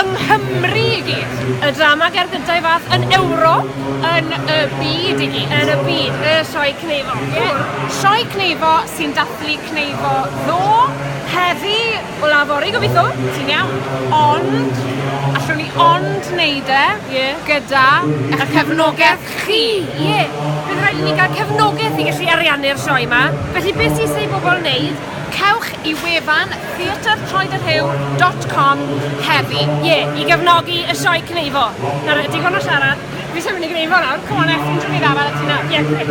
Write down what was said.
yng Nghymru i gyd, y drama gerdd gyntaf ei fath yn Ewrop, yn y byd i gyd. Yn y byd, y Sioe Cneifo. Ie. Sioe Cneifo sy'n dathlu Cneifo ddo, heddi, o law fory gobeithio, ti'n iawn. Ond, allwn ni ond wneud e Ie. gyda eich cefnogaeth chi. Ie, bydd rhaid i ni gael cefnogaeth i gallu ariannu'r sioe 'ma, felly beth sy'n isie i bobl wneud? Cewch y wefan theatr-troed-y-rhiw dot com heddi. Ie, i gefnogi y sioe cneifo. Nawr, digon o siarad, dwi isie mynd i gneifo nawr, come on Elfyn, dw i ddal ar y ti nawr. Ie, gwych.